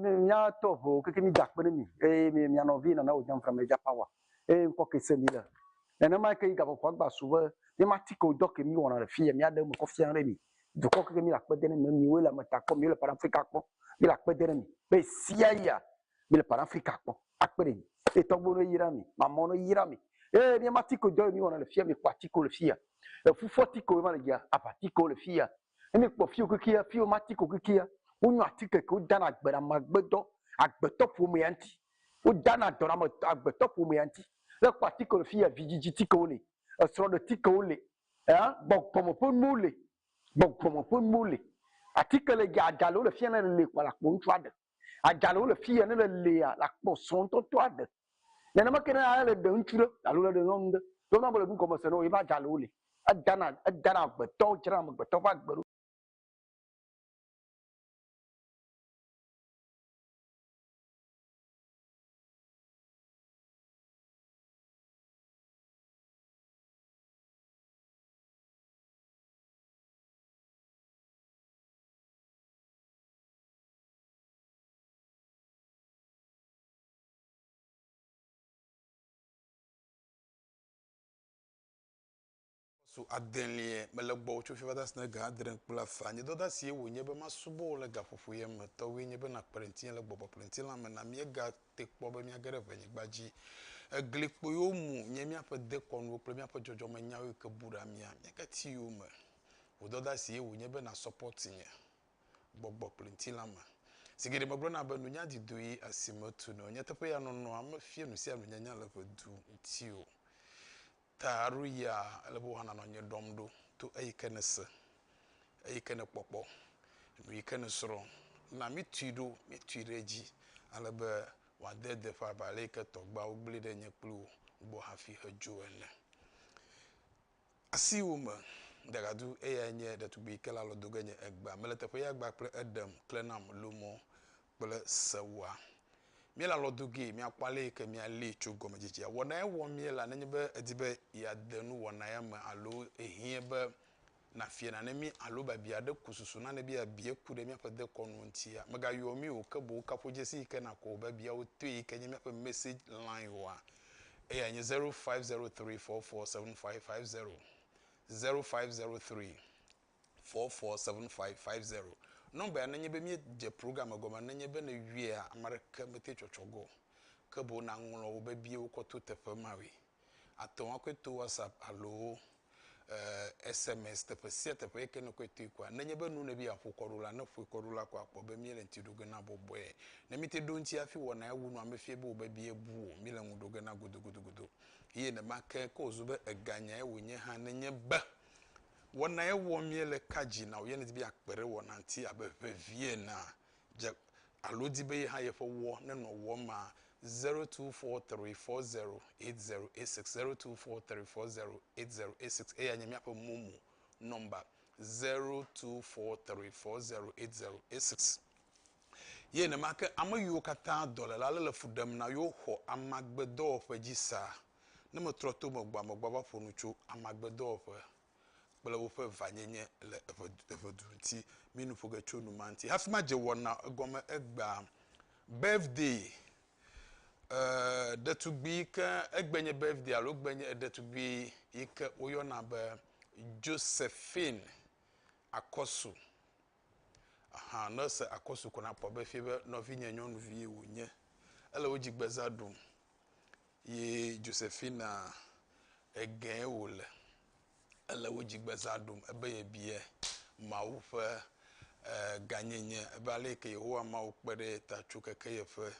Míatɔ ʋu keke mí dakpe ɖe mi eye mi mia nɔvi nana wò nyɔnfra me dza pawa eye ŋkɔ ke se mi le. Nenema ke yi gaƒoƒo agba su be mi ma ti ke wò dɔ ke mi wɔna le fi ya mia ɖe eme kɔ fia ɖe mi. Dukɔ keke mi le akpe de ne mi, miwoe le ame ta kpɔ, miwo le pan Afrika kpɔ, mi le akpe de ne mi be sia ya Mi le Pan Afrika kpɔ akpe ɖe nyi. Eye tɔgbuiwo no yra mi, mamɔwo no yra mi. Eye mi ma tiko dɔ yi mi wɔna le fiya, mi kpɔ atiko le fiya. Eƒu fɔ tiko yi ma le dzia, aʋa tiko le fiya. Ne mi kpɔ fiwo kekeya, fiwo ma tiko kekeya. Wo nyo atike ke wo dana agbe na magbe dɔ, agbetɔ ƒomea ŋti. Wo dana dɔ na ame agbetɔ ƒomea ŋti. Ne kpɔ atiko le fiya, vidzidzi tikewo le, esrɔɖe tikewo le, eh, gbɔgbɔme ƒe nuwo le, gbɔgbɔme ƒe nuwo le. Atike le dzia, aɖa le wo le fiya ne le kpɔ la kpɔ ŋtsua ɖe. Adzalewo le fi ya ne le lea la kpɔ srɔ̃tɔtɔ aɖe. Nenema ke ne ale le ɖe ŋutsu ɖe alo le ɖe nyɔnu ɖe. Ɖo na be le nu gɔme se ne woyebe adzalewo le. Edana edana agbetɔ dzra amegbetɔ ƒe agbe ɖo. Su adelia mele gbɔwò tso fiva dasi ne ga adre kple afã. Nye dɔdasi ye wò nye be masubɔ wò le gaƒoƒo ye me. Tɔwòe nye be nakplɔe ŋutinye le gbɔgbɔ kple ŋutilã me. Na míega te kpɔ be míage ɖe ʋe nyigba dzi. Egli kpuiwo mu nye míaƒe dekɔnuwo kple míaƒe dzɔdzɔme nyawo yi ke bu ɖa mía. Míage ti yowò me. Wò dɔdasi ye wò nye be na support nye. gbɔgbɔ kple ŋutilã me. Zi geɖe megblɔna be nunya di dui esi metu nɛ o. Nyateƒe ya nɔnɔa mefia nu sia nunyanya le ƒe du ŋuti o. Ta alo ya ele be wòana nɔ nye ɖɔm ɖo to eyi ke nèse, eyi ke nèkpɔkpɔ, nu yi ke nèsrɔ̃. Na míetui ɖo, míetui ɖe edzi ale be wòade deƒe abe ale yi ke tɔgbeawo gblẽe ɖe nye kpli wò gbɔ hafi hedzo ene. Asiwò me dagadu eyae nye ɖetugbui ke la lɔ do ge nye egbea mele teƒe ya gba kple eɖem kle nam lo mɔ kple sewoa mía la lɔ do gee mía kpɔ alee ke mía lee tso gɔme dzedzea wɔnae wɔ mía la nenye be edi be ya de nu wɔna ya me alo ehiɛ be na fia nane mí alo biabia ɖe ku susu nane be ya bie ku ɖe mía ƒe dekɔ nu ŋutia mega yɔ mí o ke boŋ kaƒo dzesi yi ke na kɔ wò biabiawo toe yi ke nye mía ƒe message line oa. Eyae nye 0503447550, 0503447550. Nɔmba ya nenye be míedze program egɔme nenye be nèyɔea, ame aɖeke mete tsɔtsɔ ge o, ke boŋ nàŋlɔ wò biabiawo kɔ to teƒe mawoe. Àte ŋu akɔe to WhatsApp alo eh, SMS teƒe sia teƒe yi ke nèkɔe toe koa, nenye be nu nèbe yeaƒo kɔ ɖo la, ne ƒoe kɔ ɖo la ko akpɔ be míele ŋuti ɖo ge na bɔbɔe. Ne míete ɖo eŋuti hafi wɔnae wu nua mefia be wòbe bia bu o, míele ŋu ɖo ge na godogodogodo. Eye nenema ke ko wòzu be eganyae wònye hã nenye be wɔnae wɔm míele ka dzi na wò ye nèdi be yeakpe ɖe wɔnaa ŋuti abe ʋevi enea, dze alo di be ye hã yeƒe wɔ nenɔ wɔ ma, 0243408086, 0243408086, eyae nye míaƒe momo nɔmba, 0243408086. Ye nenema ke ame yiwo katã dɔléla lé le fu ɖem na yewo xɔ amagbedɔwɔƒe dzi sa. Ne metrɔ to megbɔa, megbɔva ƒo nu tso amagbedɔwɔƒe kple woƒe vanyenye le eƒe eƒe du ŋuti. Mi nu ƒo ge tso nu ma ŋuti. Hafi madze wɔna egɔme egbea, birthday, e, ɖetugbui yi ke egbe nye birthday alo egbe nye ɖetugbui yi ke woyɔna be Josephine Akɔsu. Ahan ne ese akosu ko nakpɔ be efie be nɔvinye nyɔnuvie wònye. Ele wo dzigbeza ɖum yi Josefina egee wòle. Ele wo dzigbeza ɖum ebe yebia Mawu ƒe gãnyenye, ebe ale yi ke Yehowa Mawu kpe ɖe ye ta tso keke yeƒe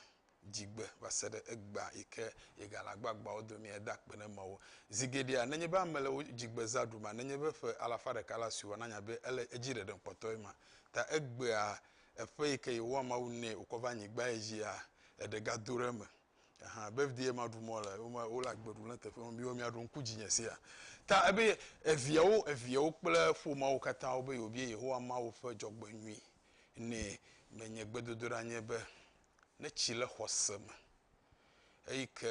dzigbe va se ɖe egbea yi ke yegale agbagbawo domea, eda akpe na Mawu. Zi geɖea, nenye be ame le wo dzigbe zã ɖuma, nenye be ƒe alafa ɖeka la sua, nanya be ele edzi ɖeɖem kpɔtɔe ma ta egbea, eƒe yi ke Yehowa Mawu nɛ wòkɔ va anyigbae dzia, eɖe gado ɖe eme. Ahan, birthday ye maɖu mɔ le, wome, wole agbe ɖum le teƒe ma, miwo miaɖo ŋku dzinye sia. Ta ebe eviawo, eviawo kple ƒomeawo katã wobe yewobia Yehowa Mawu ƒe dzɔgbenyui nɛ. Menye gbedodoɖa nye be ne tsi le xɔse me eyi ke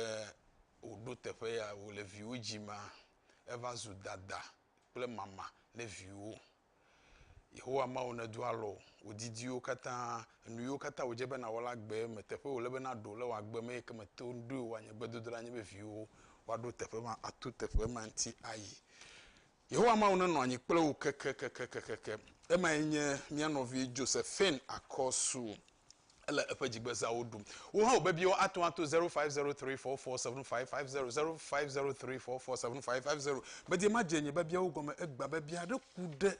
wòɖo teƒe ya wòle viwo dzimea, eva zu dada kple mama ne viwo. Yehowa Mawu nedo alɔ wò didiwo katã, enu yiwo katã wòdze be nàwɔ le agbe me, teƒe yi wòle be nàɖo le wò agbe me eyi ke mèto ŋu ɖoe o. Nye gbedodoɖa nye be viwòwo woaɖo teƒe ma ato teƒe ma ŋuti ayi. Yehowa Mawu nenɔ anyi kple wò kekekekekekem. Emae nye mía nɔvi Josephine Akɔsu. Ele eƒe dzigbezawo ɖum. Wò hã wò biabiawo ate ŋu ato zero five zero three four four seven five five zero, zero five zero three four four seven five five zero. Medie madze nye biabiawo gɔme egbea be biabia aɖe ku ɖe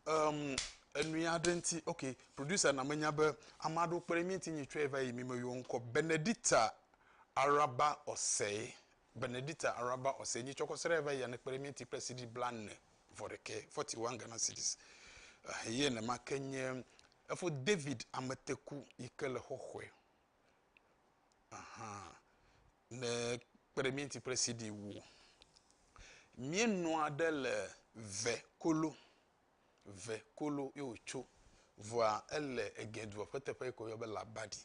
em enui aɖe ŋuti. Ok, producer na menya be ame aɖewo kpe ɖe mía ŋuti nyi tsɔe va yi mi me yɔ ŋkɔ Benedicta Araba Osei Benedicta Araba ɔ se nyi cɔkɔ srɛ va yia nekpe ɖe mía ŋti kple CD blaene vɔ ɖekɛ, forty one Ghana cedis. Ehɛyɛ nɛma ke nye efo David ameteku yi ke le xɔxɔɛ. Ahan ne kpe ɖe mía ŋti kple CD wo. Mía nɔa ɖe le ve kolo, ve kolo ye wo co. Vɔa ele egɛdua ƒe teƒe yi ke wo yɔ be labadi.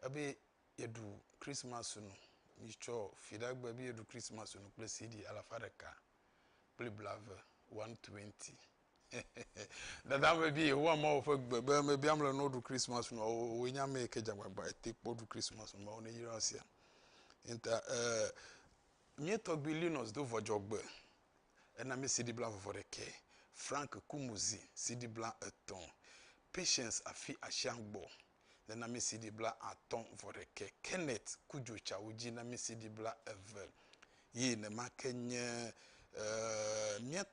Ebe yeɖu Kristmas nu. Mitsɔ Fiɖagbe be yeɖu Kristmas nu kple CD alafa ɖeka kple blaeve, 120. Dada ame bi Yehowa Mawu ƒe gbe be ame bi amle no ɖu Kristmas nua woe nya ame ke dzagbagba ete kpɔ ɖu Kristmas nua wo ne yra sia. Inta eh mie tɔgbi Linus do vɔdzɔgbe ena mi CD bla vɔvɔ ɖekɛ, Frank Kumuzi CD bla etɔn, Patience afi ashiagbɔ. le namisiɖi bla atɔ̃ vɔ ɖekɛ, Kenneth ku dzo tsawu dzi namisiɖi bla eve yi nemake nye mía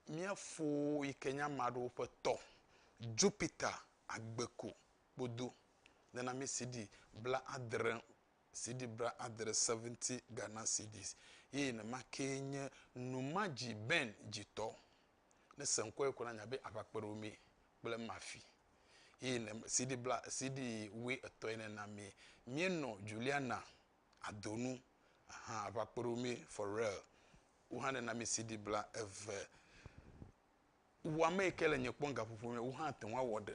mía fo yi ke nye ame aɖewo ƒe tɔ Jupiter Agbeku kpodo le namisiɖi bla adre siɖi bla adre, seventy Ghana cedis, yi nemake nye Numadzi Ben dzi tɔ Ne èse ŋkɔe ko la, anya be aʋakpeɖeomee kple Murphy eye ne CD bla, CD wui etɔ̃ ene na amee. Míenɔ Juliana, Adonu, ahan aʋakpeɖeomee for real. Wohã ɖe na mí CD bla eve. Wò ame yi ke le nye kpɔm gaƒoƒo me, wò hã àte ŋu awɔ ɖe.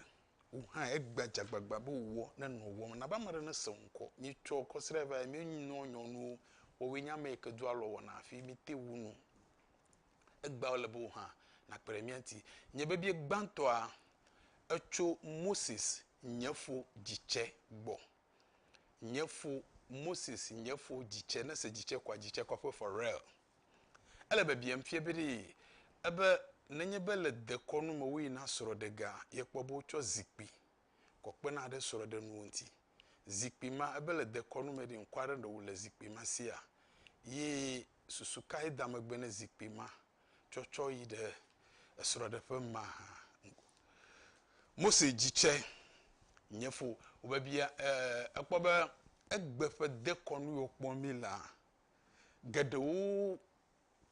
Wò hã egbe dze agbagba be wò ne nɔ wò wɔm. Na be ame aɖe nese wò ŋkɔ. Míetsɔ kɔsiɖa vae, míenɔ nyɔnuwo. Woawoe nye ame yi ke do alɔ wɔna hafi míete ŋu nu. Egbea wòle be wò hã nàkpe ɖe mía ŋuti. Nye bebie gbãtɔa, etso Moses, nye fo, dzitsɛ gbɔ. Nye fo, Moses, nye fo, dzitsɛ. Ne èse dzitsɛ koa, dzitsɛ kɔƒe for real. Ele be biam fia be ɖee ebe nenye be le dekɔnu me woyina srɔ̃ɖe gea, yekpɔ be wotsɔ zikpui kɔ kpena ɖe srɔ̃ɖenuwo ŋuti. Zikpui ma, ebe le dekɔnu me ɖee, ŋkɔ aɖe nɔ wò le zikpui ma sia ye susu kae da megbe ne zikpui ma tsɔtsɔ yi ɖe esrɔ̃ɖeƒe mahã? Mose dzi tsɛ. Nye fo wobebia ekpɔ be egbe ƒe dekɔnu yi wokpɔ mí la, geɖewo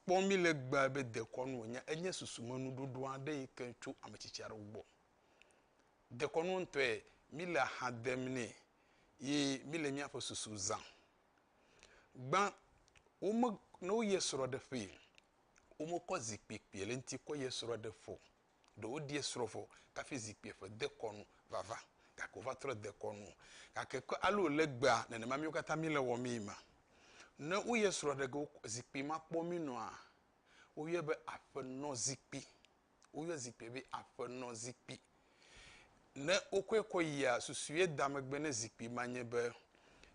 kpɔ mí le egbea be dekɔnu wònye. Enye susumenuɖoɖo aɖe yi ke tso ame tsitsi aɖewo gbɔ. Dekɔnu ŋutɔe, míle ha dem nɛ ye míle míaƒe susu zãm. Gbã, wome, ne woyi esrɔ̃ ɖe ƒee, womekɔ zikpui kpui le ŋuti kɔ yi esrɔ̃ ɖe ƒe o. Ɖe woɖi esrɔ̃ vɔ kafi zikpui ƒe de kɔ nu vava gake wova trɔ de kɔ nu o. Gake ke ale wòle egbea, nenema míwo katã míle wɔmee ma. Ne woyi esrɔ̃ ɖe ge zikpui ma kpɔ mí nɔa, woyɔe be aƒenɔzikpui. Woyɔ zikpuia be aƒenɔzikpui. Ne wokɔe kɔ yia, susue da megbe ne zikpui ma nye be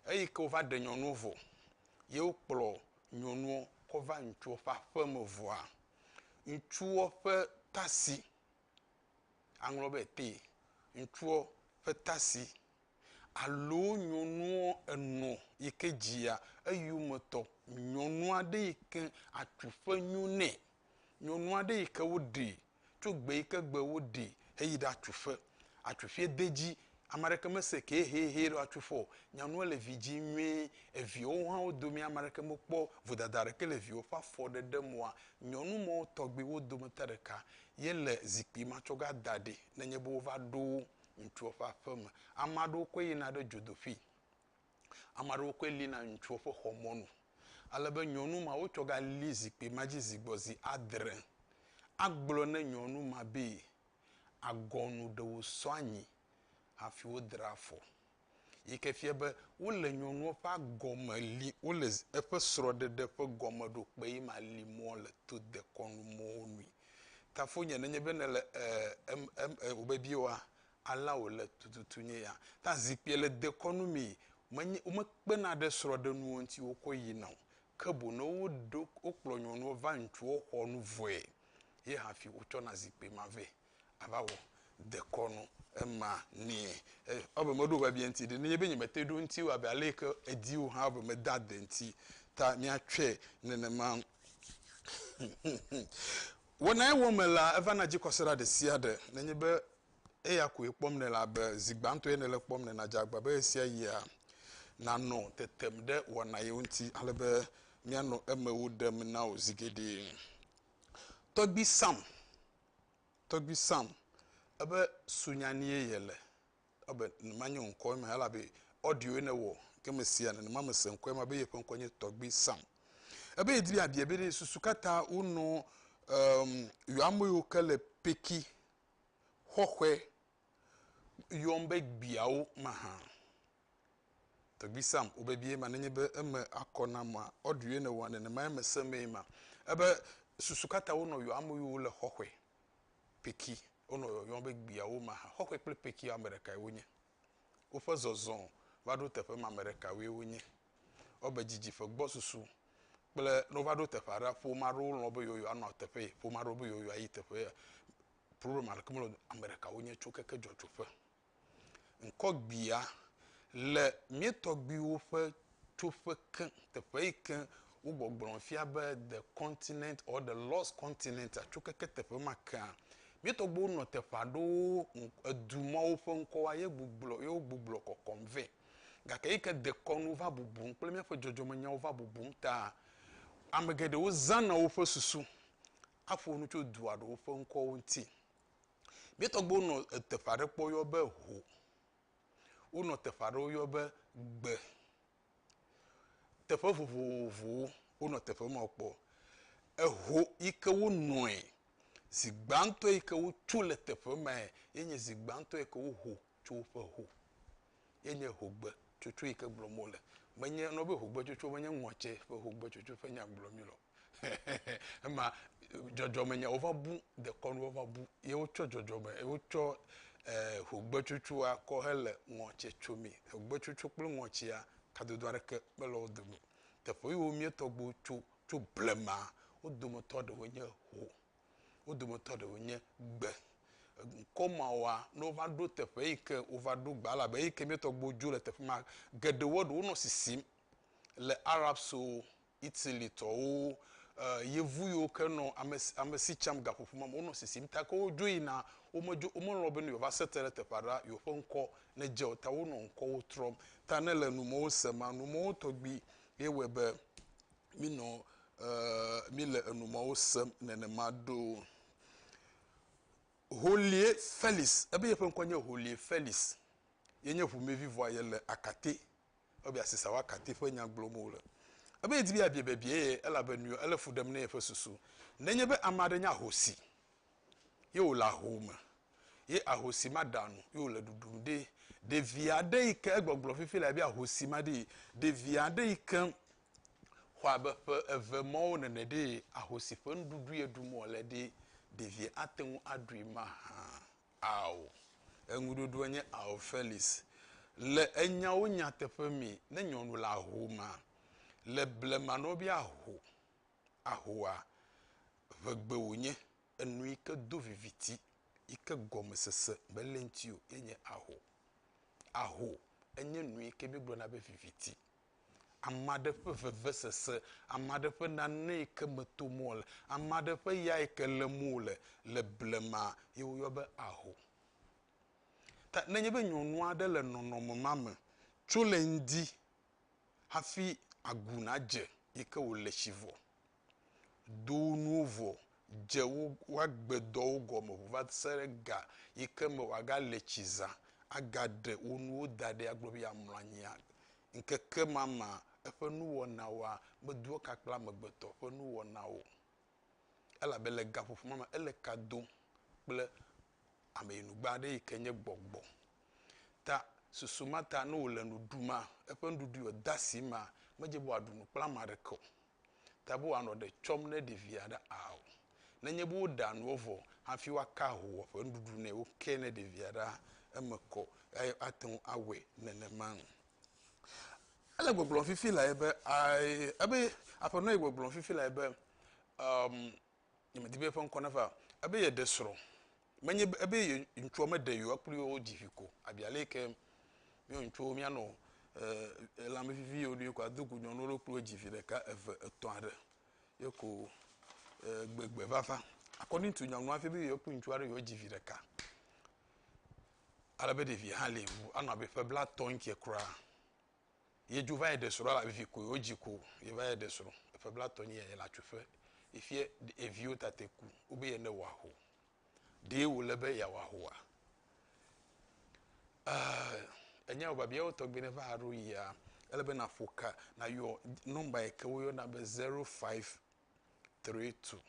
eyi ke wova ɖe nyɔnuwo vɔ ye wokplɔ nyɔnuwo kɔ va ŋutsuwo ƒe aƒe me vɔa, ŋutsuwo ƒe tasi, aŋlɔ be te, ŋutsuwo ƒe tasi alo nyɔnuwo enɔ yi ke dzia eyome tɔ nyɔnu aɖe yi ke atu ƒe nyo nɛ nyɔnu aɖe yi ke woɖee tso gbe yi ke gbe woɖee heyi ɖe atuƒe. Atuƒee de edzi, ame aɖeke mese ke ehehe ɖe woatu ƒe o. Nyanua le vi dzim nyuie. Eviawo hã wo domea, ame aɖeke mekpɔ vodada aɖeke le viwo ƒe afɔ ɖeɖe me oa. Nyɔnu ma wo tɔgbi wo dometɔ ɖeka ye le zikpui ma tsɔ va da ɖi nenye be wova ɖo ŋutsua ƒe aƒeme. Ame aɖewo koe yina ɖe dzodoƒee. Ame aɖewo koe lina ŋutsuwo ƒe xɔ mɔnu ale be nyɔnu ma wotsɔ gali zikpui ma dzi zi gbɔ zi adre. Agblɔ ne nyɔnu ma be, agɔnu ɖe wosɔ anyi hafi wodre afɔ. Yi ke fia be wole nyɔnua ƒe agɔme li wole eƒe srɔ̃ɖeɖe ƒe gɔmeɖokpee ma li mɔ le to dekɔnu mɔwo nui. Tafonye ne nye be nèle e em em e wòbe biwoa alea wòle tututu nye ya. Ta zikpuia le dekɔnu mi, menye, womekpena ɖe srɔ̃ɖenuwo ŋuti wokɔ yina o, ke boŋ ne woɖo, wokplɔ nyɔnuɔ va ŋutsuɔ xɔ nu vɔe, ye hafi wotsɔna zikpui ma vɛ ava wɔ dekɔnu ema nɛ. E, ewɔ be meɖo biabia ŋuti ɖe. Nenye be nyemete ɖo eŋuti o abe ale yi ke èdi o hã, ewɔ be mede ade eŋuti. Ta míatsɔe nenema. Wɔnae wɔm mele eva na dzikɔsiɖa ɖesiaɖe. Nenye be eya koe kpɔm nèle abe zi gbãtɔe nèle kpɔm ene la, dze agbagba be ɣesiaɣia nànɔ tetem ɖe wɔna yewo ŋuti ale be míanɔ eme wo ɖem na wò zi geɖe. Tɔgbui Sam, Tɔgbui Sam, ebe sunyanie yele? ebe numa nye wò ŋkɔ ema elabe audio ne wɔ ke me sia nenema me se ŋkɔ ema be yeƒe ŋkɔ nye tɔgbi sam ebe yedi be abia be ne susu katã wo nɔ um, yɔ ame yiwo ke le peki xɔxɔe yɔm be gbiawo ma hã tɔgbi sam wo bebie ma nenye be eme akɔ na ma audio ne wɔ nenema eme se mee ma ebe susu katã wo nɔ yɔ ame yiwo le xɔxɔe Peki, wonɔ yɔyɔm be gbiawo ma hã. Xɔxɔe kple Pekiwo ame ɖekae wonye. Woƒe zɔzɔ va ɖo teƒe ma ame ɖekawoe wonye. Ewɔbe didi ƒe gbɔsusu kple ne wova ɖo teƒe aɖea, ƒome aɖewo lɔ̃ be yewoyɔ anɔ teƒe ye, ƒome aɖewo be yewoyɔ ayi teƒe ye. Problem aɖeke mele o. Ame ɖeka wonye tso keke dzɔdzɔƒe. Ŋkɔgbea, le mía tɔgbuiwo ƒe tsoƒe ke, teƒe yi ke wogbɔgblɔ fia be The Continent or The Lost Continent, Atsokeke Teƒe Ma kea, mía tɔgbuiwo nɔ teƒe aɖewo edu mawo ƒe ŋkɔwoa ye gbuglɔ ye wogbuglɔ kɔkɔm vɛ. Gake eyi ke dekɔnu va bubum kple míaƒe dzɔdzɔmenyawo va bubum taa, ame geɖewo zãna woƒe susu aƒo nu tso dua ɖewo ƒe ŋkɔwo ŋuti. Mía tɔgbuiwo nɔ teƒe aɖe kpɔ woyɔ be ho. Wonɔ teƒe aɖe woyɔ be gbe. Teƒe vovovowo wonɔ teƒe ma kpɔ. Eho yi ke wonɔe, zi gbãtɔ yi ke wotso le teƒe mae ye nye zi gbãtɔ yi ke woho tso woƒe ho ye nye hogbetsotso yi ke gblɔm wole. Menye, wogayɔna be hogbetsotso menye ŋɔtse ƒe hogbetsotso ƒe nya gblɔm míele o. ema dzɔdzɔme nya wova bu dekɔnu wova bu ye wotsɔ dzɔdzɔme ye wotsɔ eh, ʋugbetsutsua kɔ hele ŋɔtsi tsomi ʋugbetsutsu kple ŋɔtsia kadodo aɖeke mele wo dome teƒe yiwo mía tɔgbuiwo tso tso blema wo dometɔ ɖewo nye ho wo dometɔ ɖewo nye gbe ŋkɔ mawoa ne wova ɖo teƒe yi ke wova ɖo gba elabe yi ke mía tɔgbuiwo dzo le teƒe ma geɖewo ɖewo nɔ sisim le arabso Italitɔwo, Yevu yiwo ke nɔ ame, amesi tsam gaƒoƒo ma me, wonɔ sisim ta ke wodzo yina, womedzo, womelɔ̃ bene yewoava se te ɖe teƒe aɖe la, yewoƒe ŋkɔ nedze o. Ta wonɔ ŋkɔwo trɔm. Ta ne le numɔwo se ma, numɔwo tɔgbi ye wɔe be minɔ, mile enumɔwo sem nenema ɖo. Holie Felix, ebe yeƒe ŋkɔ nye Holie Felix. Ye nye ʋumevi vɔa yele Akate. Ebe yeasi Sawa Katté ƒe nya gblɔm wòle. Ebe yedi be yeabia biabia ye, elabe nuyɔ ele fu ɖem na yeƒe susu. Nenye be ame aɖe nye ahosi, ye wòle ahome, ye ahosi ma ɖea nu, ye wòle ɖuɖum ɖe, ɖevi aɖe yi ke egbɔgblɔ fifi le abe ahosi ma ɖee, ɖevi aɖe yi ke xɔ abe ƒe eve mɔwo nene ɖee, ahosi ƒe nuɖuɖu ye ɖum wòle ɖee, ɖevia ate ŋu aɖui mahã. Ao. Eŋuɖoɖoa nye Ao, Felix. Le enyawo nyateƒe me, ne nyɔnu le ahoma, le blema nɔ be aho, ahoa, ŋegbe wònye, enu yi ke do viviti, yi ke gɔmesese mele eŋuti o, ye nye aho. Aho, enye nu yi ke míegblɔna be viviti. Ame aɖe ƒe vevesese, ame aɖe ƒe nane yi ke me tom wole, ame aɖe ƒe ya yi ke lém wole le blema ye woyɔ be aho. Ta ne enye be nyɔnu aɖe le nɔnɔme ma me tso le ŋdi hafi agu nadze yi ke wòle tsi vɔ do wo nuwo vɔ, dze wo woagbe dɔwo gɔme ŋu va se ɖe ga yi ke me woagale tsi zã agaɖe wo nuwo da ɖi agblɔ be yeamlɔ anyia, ŋkeke ma me eƒe nuwɔnawoa medo eka kple amegbetɔ ƒe nuwɔnawo o. Elabe le gaƒoƒo ma me ele ka dom kple ameyinugbe aɖe yi ke nye gbɔgbɔ. Ta susu ma ta ne wòle nu ɖum maa, eƒe nuɖuɖui wòde asi maa, medze be wòaɖu nu kple ame aɖeke o. ta be woanɔ ɖe tsɔm ne ɖevia ɖe ao. Nenye be woɖea nuwo vɔ hafi woaka ahoa ƒe nuɖuɖu nɛ woke ne ɖevia ɖea, eme kɔ eye ate ŋu awɔe nenema. Ele gbɔgblɔm fifi lae be, ebe aƒenɔ ye gbɔgblɔm fifi lae be, nye medi be eƒe ŋkɔ nava o, ebe yeɖe srɔ̃, menye be ebe ye ŋutsua meɖe yewo kple yewo dzi vi ko, abi ale yi ke míawo ŋutsuwo míanɔ e lãme vivi yewo ɖoe ko ado gu nyɔnuwo ɖo kple wo dzi vi ɖeka, eve, etɔ̃ aɖe ye ko e gbegbe vava. Akɔdin tu nyɔnua fia be yewo kple ŋutsua ɖe yewo dzi vi ɖeka. Ale be ɖevia hã li ŋu anɔ abe ƒe blatɔ̃ ŋkɛ kura. Yedzo va yi ɖe srɔ̃ elabe vi koe wodzi ko. Yeva yi ɖe srɔ̃. Eƒe blatɔ nyi ya yele atsoƒe. Efia eviwo tate ku. Wobe ye ne wòaho. Ɖee wòle be yeawɔ ahoa? Ɛɛ, ènya wò biabiawo tɔgbi ne va ɖo yia, ele be nàƒo ka, nàyɔ nɔmba yi ke woyɔna be zero five tri tu,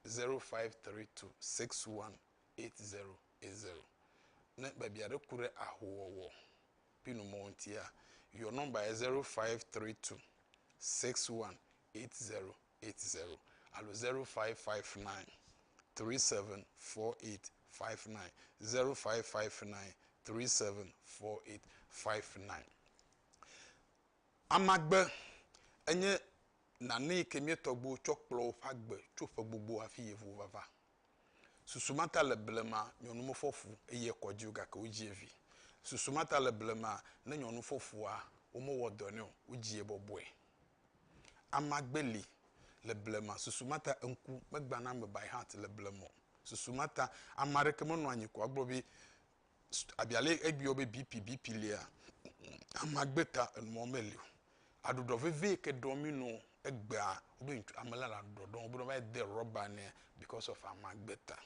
zero five tri tu six wan eit zero eit zero. Ne biabia aɖe ku ɖe ahowɔwɔ. pi nu mɔ ŋtia, your number ye 0532618080 alo 0559374859, 0559374859. Amagbe enye nane yi ke mía tɔgbuiwo tsɔ kplɔ woƒe agbe tso ƒe gbogbo hafi yi ŋu vava. Susu ma ta le blema nyɔnu mefɔ fu eye ekɔ dzi o gake wodzie vi. Susu ma ta le blema ne nyɔnu fɔ fua, womewɔ dɔ nɛ o, wodzie bɔbɔe. Amagbe li le blema. Susu ma ta ŋku megbãna ame bae hã le blema o. Susu ma ta ame aɖeke menɔa anyi ko agblɔ be abia lé egbiɔ be BP BP lea, ame agbe ta enuɔ meli o. Aɖuɖɔ veve yi ke ɖɔ mí nɔ egbea wobe ŋtsu ame la le aɖuɖɔ ɖɔm wobe ne va yi de rɔba nɛ bikɔs ɔf ame agbe ta.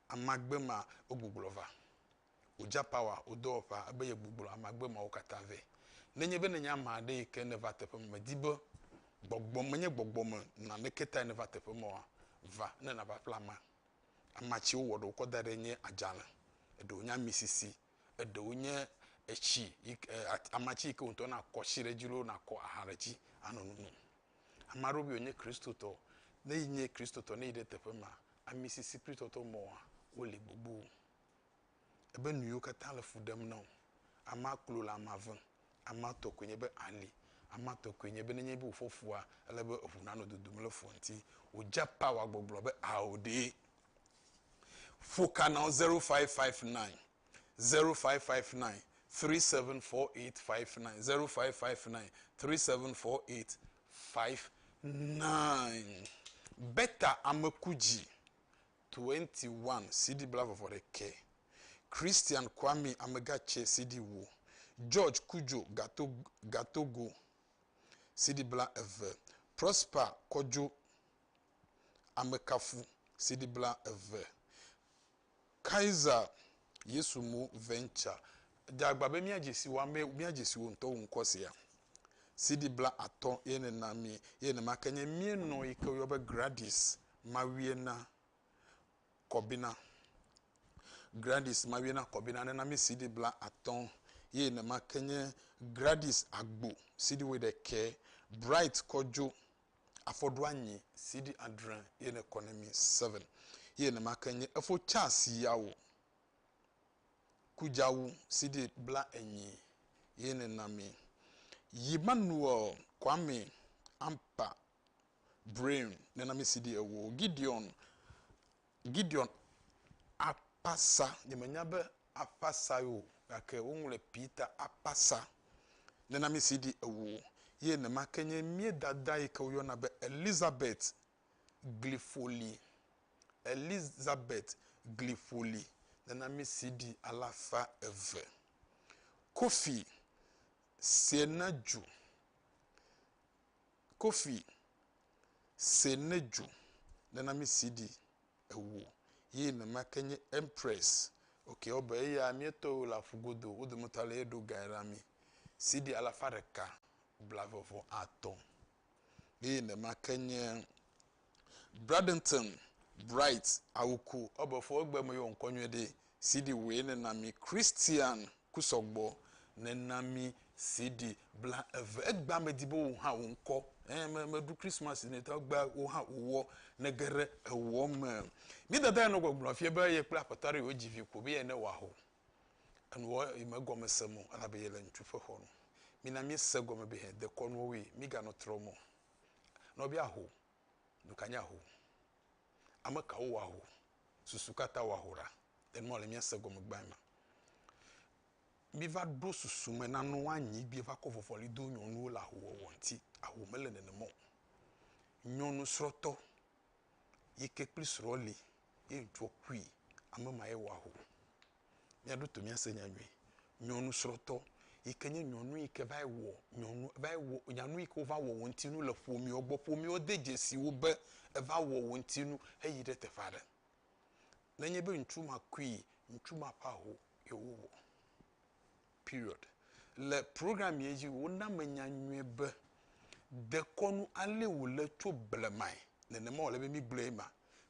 Ame agbe ma wogbuglɔ va. Wo ja pawa wo dɔwɔƒea ebe yegbuglɔ ame agbe mawo katã vɛ. Nenye be nènye ame aɖe yi ke ne va teƒe me mèdi be gbɔgbɔ menye gbɔgbɔme nɔnɔme ke tae nèva teƒe ma oa, va ne nàva ƒle amea. amatsi wowɔ ɖe wokɔ da ɖɛ nye adzalẽ, eɖewo nye amisisi, eɖewo nye etsi yi ke e at amatsi yi ke wò ŋutɔ nàkɔ tsi ɖe edzi loo nàkɔ aha ɖe edzi anɔ nonom. Ame aɖewo be yewonye Kristotɔ. Ne enye Kristotɔ ne yi ɖe teƒe ma, amisisi kple tɔtɔ mɔa wole gbogbo. Ebe nu yiwo katã le fu ɖem na wò. Amea klo le amea vem. Amea tɔ koe nye be ali. Amea tɔ koe nye be nenye be wòfɔ fua, ele be eŋu nanɔ dodom le fua ŋuti. Wòdze power gbɔgblɔ be ao ɖee. Ƒo ka na wo, zero five five nine, zero five five nine, three seven four eight five nine, zero five five nine, three seven four eight five nine. Beta Ameku dzi 21 CD Blavɔvɔ ɖekɛ Christian Kwame Amega Tse CD wo George Kudjo Gato Gatogo CD Bla eve Prosper Kɔdjo Amekafu CD Bla eve Kaiser Yesu Mo Venture Edze agba be míadze si wò amee, míadze si wò ŋutɔ wò ŋkɔ sia. CD bla atɔ̃ ye nena mí ye nema ke nye mía nɔ yi ke woyɔ be Gradis mawue na kɔbina. Gradis mawue na kɔbina nena mi sidi bla atɔ̃ ye nema ke nye Gradis agbo sidi woi ɖekɛ, Bright kɔdzo afɔɖo anyi sidi adre ye ne kɔ ne mi seven ye nema ke nye efo chas yawo kudzawu sidi bla enyi ye nena mi. Yimanuel Kwame Ampa Brain nunɔamesi ɖi ewo. Gideon, Gideon akpasa, nyemenya be akpasa ye o gake woŋlɔe Peter akpasa nunɔamesi ɖi ewo. Ye nema ke nye mía dada yi ke woyɔna be Elizabeth Gliƒoli, Elizabeth Gliƒoli nunɔamesi ɖi alafa eve. Kofi Sienadju, Kofi se ne dju nena mi CD ewo ye ne ma ke nye Empress ok wo be eya mie tɔ wo le aƒu godo wo dome tɔ ale ye ɖo gae ra mi CD alafa ɖeka blavevɔ atɔ ye ne ma ke nye Bradenton Bright awuku ɔbefo egbe me yo ŋkɔ nyuie ɖi CD woe ne na mi Christian ku sɔgbɔ ne na mi CD bla eve egba me di bo wo hã wo ŋkɔ eh me me du Christmas ne ta gba wo hã wo wɔ ne gere ewɔ me mi dada ya no gbɔgblɔ fie be ye kple apata re wo jivi ko be ye ne wa ho enu wɔ yi me gɔme se mo ala be ye le ŋutsu fe xɔ no mi na mi se gɔme be he dekɔ nuwo wi mi ga no trɔ mo. Nɔvia ho, nu ka nye aho? Ame kawo wɔa aho? Susu ka ta wɔa aho ɖa? Enye mɔ le mía se gɔme gbãe ma. Mi va ɖo susu me na nua nyi bi va kɔ vɔvɔli do nyɔnuwo le aho wɔwɔ ŋuti. Aho mele nenema o. Nyɔnu srɔtɔ yike kple srɔ li ye ŋtsua kui ame ma ye wɔa ho mia ɖoto mia se nya nyuie nyɔnu srɔ tɔ yike nye nyɔnu yike va yi wɔ nyɔnu va yi wɔ nyanu yike va wɔ wò ŋuti nu le ƒomea gbɔ ƒomea de dzesi wò be eva wɔ wò ŋuti nu heyi ɖe teƒe aɖe nenye be ŋtsu ma kui ŋtsu ma ƒe aho ye wo wɔ Period. Le program ye dzi, wona menya nyuie be dekɔnu alee wòle tso blemae. Nenema wòle be mígblɔe ma.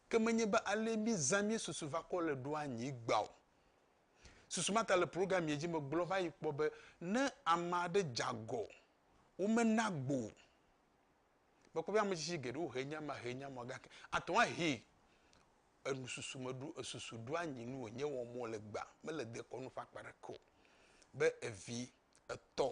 Ke menye be alee mízã mía susu va kɔ le ɖo anyi gbea o. Susu ma ta le program ye dzi megblɔ va yi kpɔ be ne ame aɖe dze agɔ, womena gbo o. Mekpɔ be ametsitsi geɖewo he nya ma, he nya ma, gake ate ŋu ahee enususu me ɖo, esusu ɖo anyi nu wònye wɔm wole egbea, mele dekɔnu ƒe akpa aɖeke o. Be evi etɔ,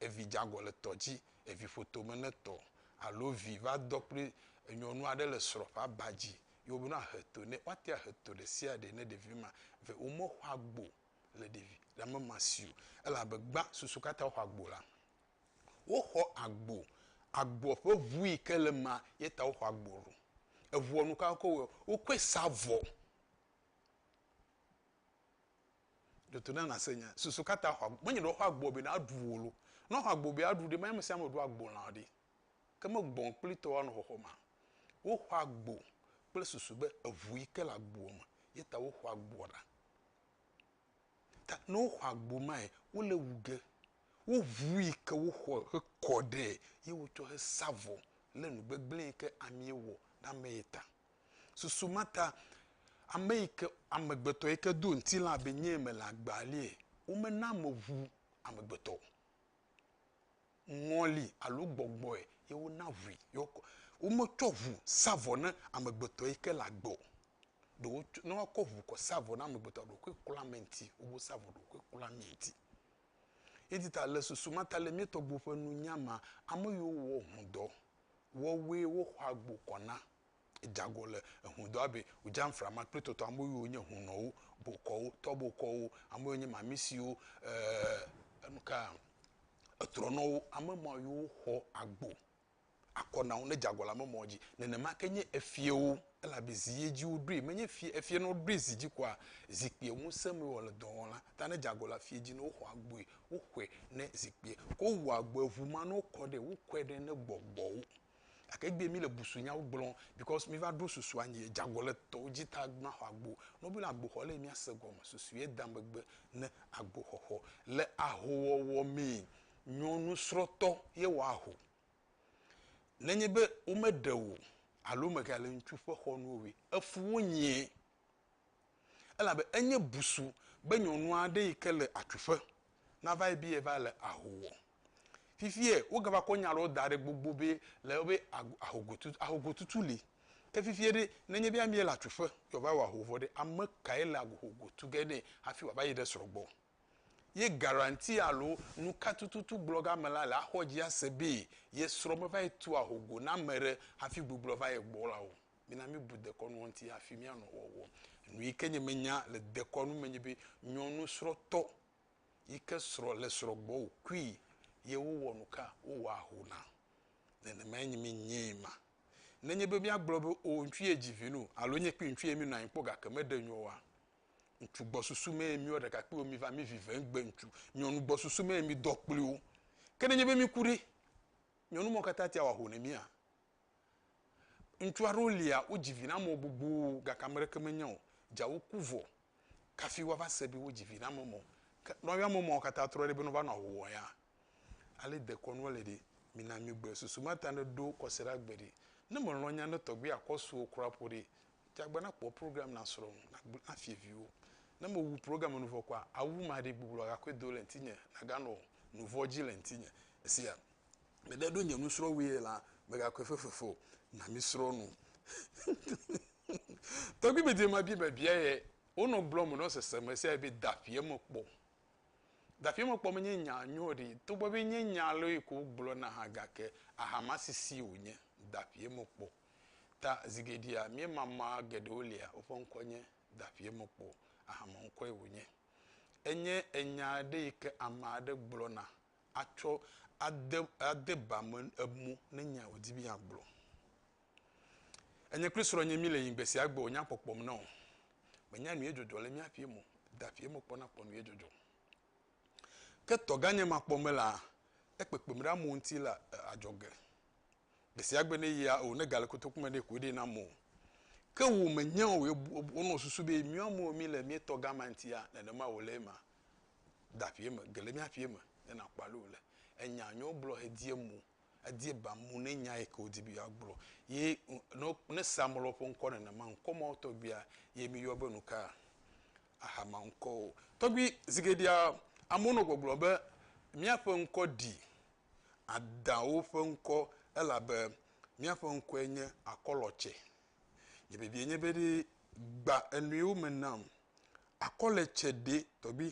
evi dze agɔ le tɔ dzi, evi ƒo tome ne tɔ alo vi va dɔ kple nyɔnu aɖe le srɔ̃ ƒe aba dzi ye wobe ne woahe to nɛ. Woate ŋu ahe to ɖe sia ɖe ne ɖevi ma ve womexɔ agbo le ɖevi le ame ma si o elabe gbã susu katã woxɔ agbo la. Woxɔ agbo, agboa ƒe ʋu yi ke le emea, ye ta woxɔ agbo ɖo. Eʋua nu ka wokɔ wɔe? Wokɔe sa avɔ. Ɖe to na nàse nya. Susu ka ta xɔ agbo? Menye be woxɔ agboa be na ɖu o lo. Ne woxɔ agbo be na ɖu ɖe, menye ame sia ame ɖua agbo lã ɖe. Ke me gbɔ kplitɔ woanɔ xɔxɔ mea? Woxɔ agbo kple susu be eʋu yi ke le agboa me ye ta woxɔ agboa ɖa. Ta ne woxɔ agbo mae, wole wu ge. Woʋui ke woxɔ hekɔ ɖɛ ye wotsɔ he sa vɔ le nu gbegblẽ yi ke amee wɔ ɖe ame ye ta. Susu ma ta ame yi ke amegbetɔ yi ke do ŋtilã be nyee mele agbaa lie, womena ame ŋu amegbetɔ o. ŋɔli alo gbɔgbɔe ye wona ŋui ye wokɔ. Wometsɔ ŋu sa vɔ na amegbetɔ yi ke le agbe o. Ɖe wotsɔ, ne woakɔ ŋu kɔ sa vɔ na amegbetɔa, ɖokuiwo klɔ ame ŋuti. Wobe wosa vɔ ɖokuiwo klɔ ame ŋuti. Eyi ti ta le susu ma ta le mía tɔgbuiwo ƒe nunya mea, ame yiwo wɔ ŋudɔ wɔwɔe woxɔ agbo kɔ na Edago le ehũdɔa be wòdza ŋframa kple tɔtɔ ame yiwo nye hũnɔwo, bokɔwo, tɔbokɔwo, ame yiwo nye mamisiwo, ɛɛ enu kaa, etrɔnɔwo, ame ma yiwo woxɔ agbo akɔ na wo ne dze agɔ le ame mawo dzi. Nenema ke nye efiẽwo elabe zi ye dzi woɖoe. Menye fiẽ, efiẽ ne woɖoe zi dzi koa, zikpuia ŋusẽ mee wòle dɔ wɔm la, ta ne dze agɔ le afiẽ dzi ne woxɔ agboe, woxɔe ne zikpuia, ke wowua agboa, eŋu ma ne wokɔ ɖee, wokɔe ɖe ne gbɔgbɔwo. Gake egbea mi le busunyawo gblɔm because mi va ɖo susu anyi edze agɔ le tɔwo dzi ta mi maxɔ agbo. Ne wobiɔ na agboxɔ le mia se gɔme susu ye da megbe ne agboxɔxɔ. Le ahowɔwɔ mee, nyɔnu srɔtɔ ye wɔ aho. Nenye be wome ɖe wò o alo mega le ŋutsu ƒe xɔnu o ƒe, efuwo nyɛ. Elabe enye busu be nyɔnu aɖe yi ke le atsuƒe nava ye be yeva le aho wɔ. Fifie wogava kɔ nya aɖewo da ɖe gbogbo be le be ahogotutu, ahogotutu li. Ke fifie ɖe, nenye be amee le atsuƒe ye wòva wɔ aho vɔ ɖe, ame kae le ahogo tu ge nɛ hafi wòava yi ɖe srɔ̃ gbɔ? Ye garanti alo nuka tututu gblɔge ame la le axɔ dzi ase be ye srɔ̃ meva yi tu ahogo na ame aɖe hafi gbɔgblɔ va ye gbɔ la o. Mina míebu dekɔnua ŋuti hafi míanɔ wɔwɔm. Nu yi ke nye menya le dekɔnu me nye be nyɔnusrɔ̃tɔ yi ke srɔ̃ le srɔ̃ gbɔ wòkui ye wowɔ nu ka? Wowɔ aho na. Nenemae nye menyee ma. Nenye be míagblɔ be o ŋutsu ye dzi vi nu alo nye kple ŋutsu ye míenɔ anyi kpɔ gake meɖe nu oa, ŋutsu gbɔsusu mee míeɔ ɖekakpuiwo míva mí vi ve ŋgbe ŋutsu, nyɔnu gbɔsusu mee mídɔ kpli wo. Ke nenye be míku ɖe, nyɔnu mawo katã atea wɔ aho na mía? Ŋutsu aɖewo lia, wodzi vi na ame gbogbo gake ame ɖeke menye o. Dza woku vɔ kafi woava se be wodzi vi na ame mɔ. Ke nɔ yɔ ame mɔ katã trɔ ɖe be nɔva nɔ ahohowɔ ya. Ale dekɔnua le ɖe, mina migbe susu ma ta ne ɖo kɔse ɖa gbe ɖe. Ne me lɔ nya ne tɔgbe ya kɔ suo kura ƒo ɖe, dza gbe na kpɔ program na srɔ ŋu, na gble na fie viwo. Ne me wu program nu vɔ kɔa, awu ma ɖe gbogbo agakɔe do le ŋtinye, na ga nɔ nuvɔ dzi le ŋtinye. Esia. Mede ɖo nye nusrɔ̃wue la, megakɔe fefefe o. Na mísrɔ̃ nu. Tɔgbi me dema bi be bia ye. Wonɔ gblɔm nɔ sese me sia be daƒia me kpɔ. Daƒia me kpɔ menye nya nyɔ ɖi. Togbɔ be nye nya lɔe ko wogblɔ na hã gake ahama sisi wonye. Daƒia me kpɔ. Ta zi geɖea mía mama geɖewo lia woƒe ŋkɔ nye daƒia me kpɔ. Ahama ŋkɔe wonye. Enye enya aɖe yi ke ame aɖe gblɔna atsɔ ade, ade ba me emɔ ne nya yi wòdi be yeagblɔ. Enye kple srɔ̃nye míle yiyim gbe sia gbe wònya kpɔkpɔm na o. Menya nu ye dzɔdzɔ le mía ƒee me o, da ƒee me kpɔna kpɔ nu ye dzɔdzɔ. Ke tɔgãnye ma kpɔ melea, ekpekpem ɖe amewo ŋuti le adzɔge. Gbe sia gbe ne yia, ewɔ ne gale kotoku me ɖe koe ɖee nam o. Ke wò mènyae o, wònɔ susu be míwo amewo míele mía tɔgã ma ŋutia, nenema wòle ema. de aƒee me, ge le mía ƒee me ne nàkpɔ ale wòle. Enya yi wogblɔ hedie mo, edie ba mo ne nya yi ke wòdi be yeagblɔ. Ye ne, ne sea ame lɔ ƒe ŋkɔ nenema, ŋkɔ mawo tɔgbuia ye míyɔ be nu ka? Ahama ŋkɔwo. Tɔgbui, zi geɖea, amewo nɔ gbɔgblɔ be, míaƒe ŋkɔ ɖi Adawo ƒe ŋkɔ elabe míaƒe ŋkɔe nye Akɔlɔtsɛ. Nye bibiae nye be ɖe gbã enuiwo me nam Akɔ le tse ɖee tɔgbi.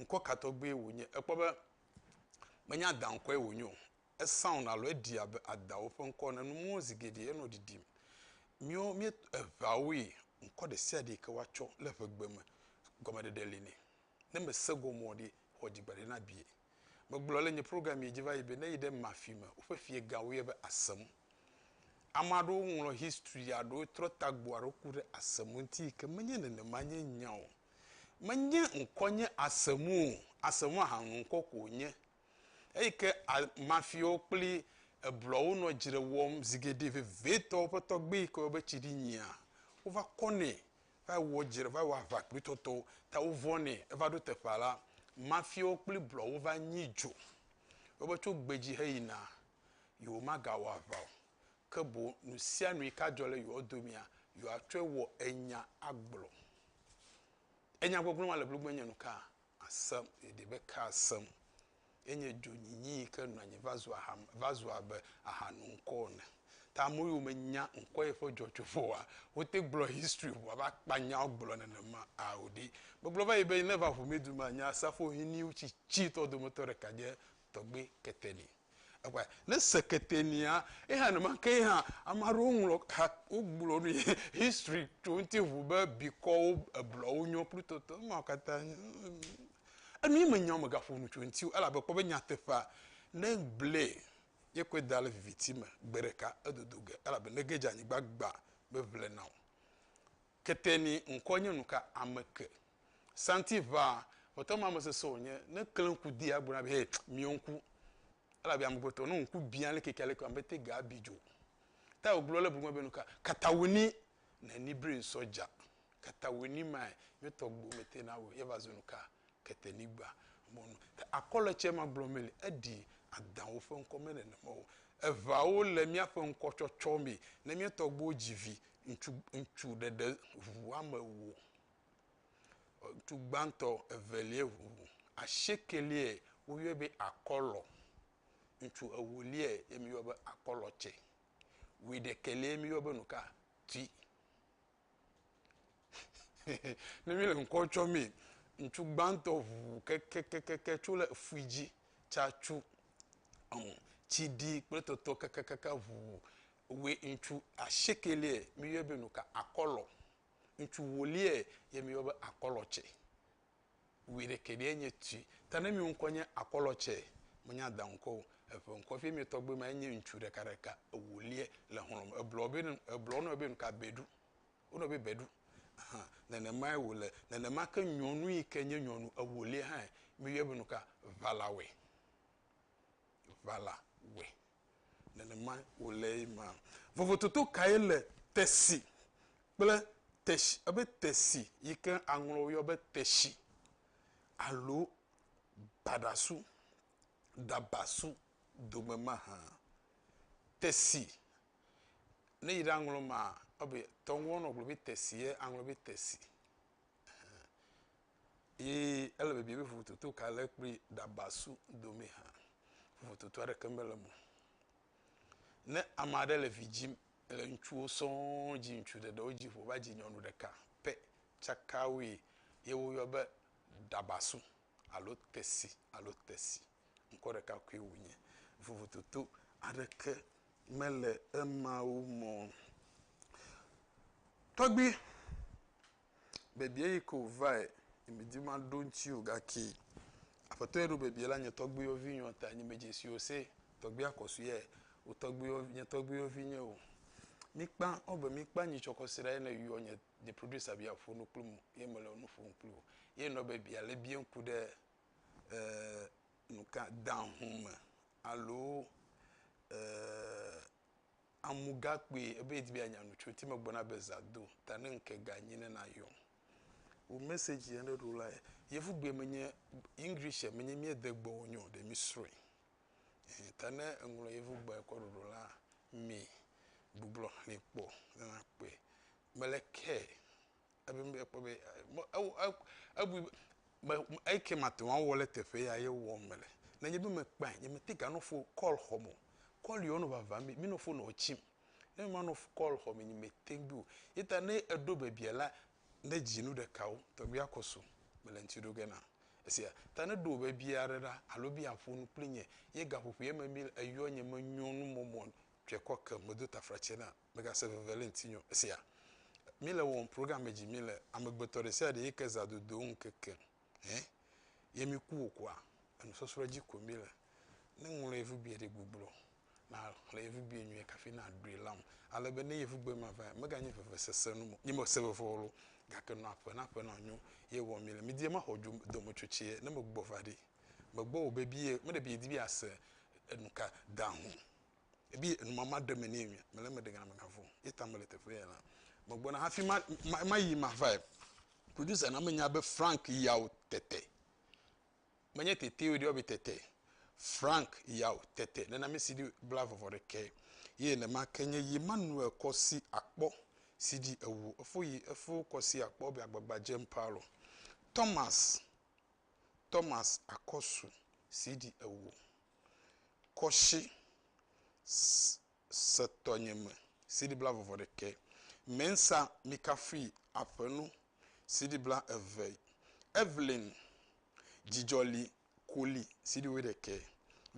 Ŋkɔ ka tɔgbie wònye? Èkpɔ be menye Ada ŋkɔe wònye o. Esaŋ alo eɖi abe Adawo ƒe ŋkɔ ene. Numɔwo zi geɖe enɔ ɖiɖim. Míewo míe, eŋea woe. Ŋkɔ ɖe sia ɖe yi ke woatsɔ le ŋegbe me, gɔmeɖeɖe li nɛ. Ne mèse gɔme o ɖe, xɔ dzigbe aɖe na vie. Megblɔ le nye programmee dzi va yi be ne yi ɖe mafi me, woƒe fiegãwo yɔ be asem. Ame aɖewo ŋlɔ history aɖewo trɔ tagbo aɖewo ku ɖe asem ŋuti yi ke menye nenema nye nya o. Menye ŋkɔ nye asem o, asem ahanu ŋkɔ ko wonye. Eyi ke mafiawo kple eblɔwo nɔ dzre wɔm zi geɖe vevitɔ, woƒe tɔgbe yi ke woyɔ be tsiɖinyia, wova kɔ nɛ va wɔ dzre va wɔ aʋa kpli toto ta wo vɔ̃ nɛ eva ɖo teƒea la mafiawo kpli blɔwo va nyi dzo wo be tso gbedzi he yi na yewo ma ga wɔ aʋa o ke boŋ nusianu yi ka dzɔ le yewo domea yewo atsɔe wɔ enya agblɔ enya gbɔgblɔ ma le blugbe nye nuka Asem, yeɖi be ke asem. Enye dzonyinyi yi ke nɔ anyi va zu aha, va zu abe aha nɔ ŋkɔ ene. Ta ame yiwo menya ŋkɔ ye ƒe dzɔdzɔ vɔ oa, wote gblɔ history ŋu ava kpa nya wogblɔ nenema a o ɖi. Megblɔ va yi be ne va ŋumidu mea, nye asrafohiniwo tsitsitɔ dometɔ ɖeka nye Tɔgbui Keteni. Ekpɔe, ne sekete nia, ye hã nenema ke hã, ame aɖewo ŋlɔ ha, wogblɔ nu yi history tso ŋuti ŋu be bikɔwo, eblɔwo nyɔ plu tɔtɔ ema wo katã. Enu ye menya megaƒo nu tso eŋuti o elabe kpɔ be nyateƒea ne egblɔe ye kɔe da ɖe viviti me gbe ɖeka edodo ge elabe ne ge dze anyigba gbã meʋle na o. Kete ni ŋkɔ nye nuka ame ke. Santi ŋa ŋɔtɔ ma me sese o nye ne kle ŋku di agblɔ na be hey miɔ ŋku ela be ame gbetɔ no ŋku bia le keke ale ke ame te ga bi dzo ta o gblɔ le bugbe be nuka katawini ne ni bri ŋsɔ ja katawini ma e nye tɔ gbo me te na o ye va zo nuka kete ni gba mo nu ta akɔ le tse ma gblɔ me le edi adan wo fe ŋkɔ me ne ne ma o eŋa wo le mia fe ŋkɔ tsɔtsɔ me ne mia tɔ gbo dzi vi Ŋutsu, ŋutsu ɖe ɖe ŋu woame ewo. Ŋutsu gbãtɔ, evelia ŋu asiekɛliae woyɔe be akɔlɔ. Ŋutsu ewoliae ye mi yɔe be akɔlɔ tse. Wuiɖekɛlia ye mi yɔe be nuka? Tui. ne mi le ŋkɔ tsɔ mi, ŋutsu gbãtɔ ŋu kekekeke tso le efui dzi tsa tsu. Ɔn, tsi ɖi kple tɔtɔ kakakaka ŋu Woe ŋutsu asiekɛliɛ miyɔɛ be nuka akɔlɔ. Ŋutsu wueliɛ ye miyɔ be akɔlɔ tsɛ. Wuiɖekɛ ɖeɛ nye tui. Ta ne miwo ŋkɔ nye akɔlɔ tsɛ, menye Ada ŋkɔ o. Eƒe ŋkɔ vie mie tɔgbe ma ye nye ŋutsu ɖekaɖeka ewueliɛ le xlɔ̃ me. Eblɔ be, eblɔ wo nɔewo be nuka beɖu. Wo nɔewo be beɖu. Ahan. Nenemae wòle. Nenema ke nyɔnu yi ke nye nyɔnu ewueliɛ hã miyɔɛ be nuka ʋalawɔɛ. Ʋalawɔɛ. nenemae wòle ema. Vovototo kae le tesi kple teshi ebe tesi yi ke aŋlɔ woyɔ be teshi alo baɖasu, dabasu dome mahã? Tesi, ne yi ɖe aŋlɔ maa, wobe, tɔwo ŋgɔ wonɔ gblɔ be tesi ye aŋlɔ be tesi. eye ele bibiam be vovototo ka le kple ɖabasu dome hã. Vovototo aɖeke mele eme o. Ne ame aɖe le vi dzim le ŋutsuwo sɔŋ dzi, ŋutsu ɖe ɖewo dzi ƒo va dzi nyɔnu ɖeka pɛ tsaka woe ye woyɔ be ɖabasu alo tesi alo tesi. Ŋkɔ ɖeka koe wonye. Vovototo aɖeke mele emawo me o. Tɔgbui Bebie yi ke wòvae, nye medi be maɖo eŋuti o gake Aƒetɔ ye ɖo bebie la nye tɔgbuiwo vinyɔ̃ ta. Nye medze si o se tɔgbui akɔsuiɛ o tɔgbuiwo, nye tɔgbuiwo vinye o. Míkpã wo be míkpã nyitsɔ kɔsiɖa ye ne yɔ nye, nye producer be yeaƒo nu kpli mo ye mele nu ƒom kpli wo. Ye nɔ be bia le bia ŋku ɖe ɛɛ nuka, dahũ me alo ɛɛ. amu gã kpui ebe yedi be yeanya nu tso ŋuti megblɔ na be zã do ta ne ŋke gã nyi ne nayɔm. Wò message yɛ ɖeɖo la yɛ yevu gbee menye English yɛ menye mie de gbɔwo nyo ɖe mi srɔe ɛɛ ta ne eŋlɔ yevu gbɔɛ kɔ ɖoɖo la mi gbublɔ xli kpɔ ne na kpɔe mele care. Ebim be yekpɔ be me ew e ebui be me me eyi ke mate ŋu awɔ le teƒe ya ye wɔm mele. Nenye be mekpɔe nyemete ganɔ fo kɔl xɔm o. Kɔl yiwo nɔ vavã mi minɔ fo nɔ tsim. Ne manɔ fo kɔl xɔ me nyemete ŋu o. Ye ta ne eɖo bebia la ne dzi nu ɖekawo tɔgbi akɔ so mele ŋuti ɖo ge na. Esia ta ne ɖo bebia ɖe ɖa alo be yeaƒo nu kpli nye ye gaƒoƒoe me mí eyɔ nye menyɔ nu mɔmɔ tɔe kɔ ke medo taflatse na Mègase veve le ŋutinye o. Èsea? Míle wɔm programme dzi mí le amegbetɔ ɖe sia ɖe yi ke zã dodo ŋu keke hɛ ye mí ku o kɔa, enusɔsrɔ̃ dzi koe mí le. Ne ŋlɔ yevubie ɖe gbugblo, na xlẽ yevubie nyuie kafi na ɖoe lam. Ale be ne yevubie ma vae, mega nye veve sese nu mo. Nye me se veve o lo, gake nɔ aƒe na ƒe na nyo ye wɔm mí le. Mí die ma xɔ dzo dometsotsɛ ne me gbɔ va ɖi. Me gbɔ wò be bie, me ɖe bie di be ase enuka da ho. ebi yɛ enumama ɖe me nɛ mia mele eme ɖe gana mega vɔ̃ ye ta mele teƒe yɛ la me gbɔna hafi ma ma ma yi ma vae producer na menya be frank yawo tete menye tete o ɖe yɔ be tete frank yawo tete nena mi si di bla vɔvɔ ɖe ke ye ne ma ke nye yi ma nu ekɔ si akpɔ si di ewu efo yi efo kɔ si akpɔ be agbagba jem paalo thomas thomas akɔsu si di ewu kɔshi setɔ nye me CD bla vɔvɔ ɖekɛ mensa mi kafui aƒenu CD bla eve Evelyn dzidzɔ li koli CD wui ɖekɛ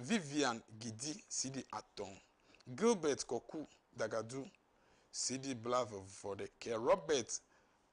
Vivian gidi CD atɔ Gilbert kɔku dagadu CD bla vɔvɔ ɖekɛ Robert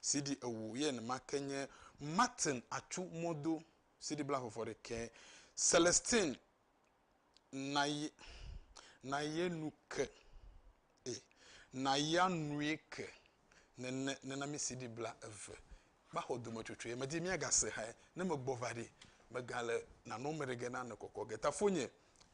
CD ewo ye enema ke nye Martin Atsu Modo, CD bla vɔvɔ ɖekɛ, Celestine Naye, Naye nu ke, e, Naya nue ke, nene, nena mi CD bla eve. Maxɔ dometsotsoe, medi míagase hae, ne megbɔ va ɖi, megale nanɔme ɖe ge na nekɔkɔ ge. Tafonye,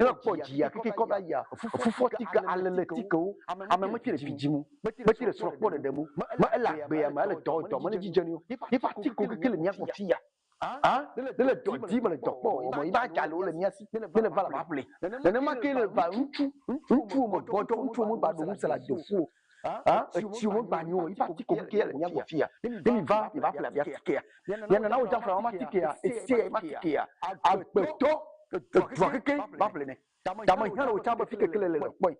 ela kpɔ dziya keke kɔ va ya fufɔ tike alele tikewo ame me tire fi dzimu me tire srɔ kpɔ ɖeɖe mu me ela gbeya me ele tɔ tɔ me ne dzidzenu ifa tiko keke le mia kpɔ fiya A, míele dɔ dim, míele dɔ kpɔ o, vɔ yi be adza le wo le mía si, míele va le va ƒle. Nenema kee le va ŋutsu, ŋutsuwo me gbɔdzɔ, ŋutsuwo me gba ɖo ŋusẽ le ado fu o, a, etsiwo me gba nyo o, yi be atike koke ya le mía gbɔ fiya. Ne miva, miva ƒle abe atikea, miana na wodzra ƒlea, matikea, esea yi be atikea, agbetɔ, edua kekeŋ va ƒle nɛ. Ta mehiã le wò tsã be fi keke le le le kpɔe.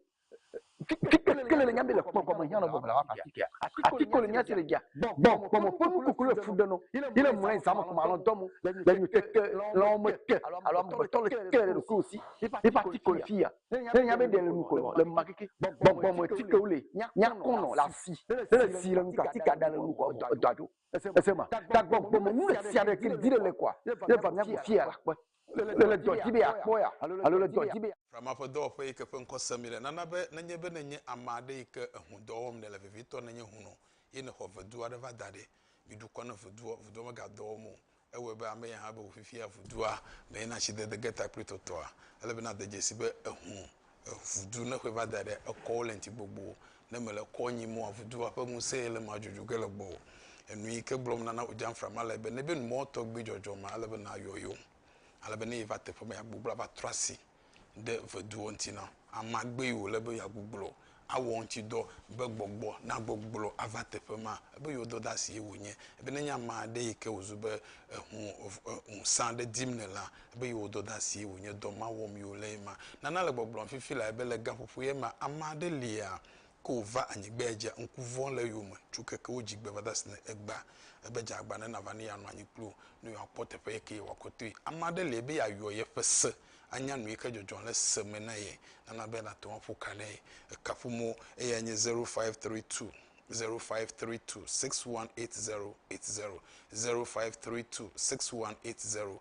Kele le nyambe le kpɔ kpɔ me nyalo bɔ bla wa pati kia. Ati ko le nyati le dia. Bɔ bɔ bɔ mo pe mu kokolo fu de no. Ile mo en zamo kuma lo domu. Le nyu te te lo me te. Alo mo to le te le ko si. Ni pati ko le fia. Le nyambe de le mu ko lo le ma kiki. Bɔ bɔ mo ti ko le. Nya kono la si. Le si le mu ka ti ka da le mu ko do do. Ese ma. Ta bɔ bɔ mo mu le sia de ki dire le kwa. Le va nya fia la kwa. Le le dɔ dzi be yeakpɔ ya alo le dɔ dzi be. Frama ƒe dɔwɔƒe yi ke ƒe ŋkɔ sem míele nana be nenye be nènye ame aɖe yi ke ehun dɔ wɔm nèle vevitɔ nenye hun o eye nèxɔ vedu aɖe va da ɖi. Miɖu kɔ ne vudoɔ vudoɔ megadɔ wɔm o. Ewɔe be ame ya hã be wòfifia vudua me ye na tsidede ge ta kple tɔtɔa. Ele be nade dzesi be ehun eŋudu ne ƒeva da ɖe ekɔwo le ŋti gbogbo ne mele kɔ nyim oa, ŋudua ƒe ŋusẽ yi le ma dzodzo ge le gbɔwò. Enu yi ke gblɔm nana wò dzamfra ma le be nebe nu mɔ tɔgbi dzɔdzɔ ma ele be nayɔ yewo ale be ne yi va teƒe me ya gbogblɔ ava trɔ asi ɖe ŋeduwo ŋti na amea gbe yi wòle be ya gbogblɔ awɔ ŋti dɔ be gbɔgbɔ na gbogblɔ ava teƒe ma ebe yewo dɔdasi ye wò nye ebe ne nye amea ɖe yi ke wòzu be eŋu ŋusẽ aɖe dim nèlea Ebe yewo dɔdasi ye wònye dɔ ma wɔm yewo le ema. Nana le gbɔgblɔm fifi lae be le gaƒoƒo ye ma, ame aɖe lia ke wòva anyigba ya dzia ŋku vɔ̃ le eyome tso keke wo dzigbe va da sine egba. Ebe dze agba ne nava ne yeanɔ anyi kpli wo, ne yewoakpɔ teƒe yi ke yewɔakɔ toe. Ame aɖe lia be yeayɔ yeƒe se, anya nu yi ke dzɔdzɔ le se me na ye, nana be nate ŋu aƒo ka ɖe ekaƒo mo. Eyae nye zero five three two zero five three two six one eight zero eight zero zero five three two six one eight zero.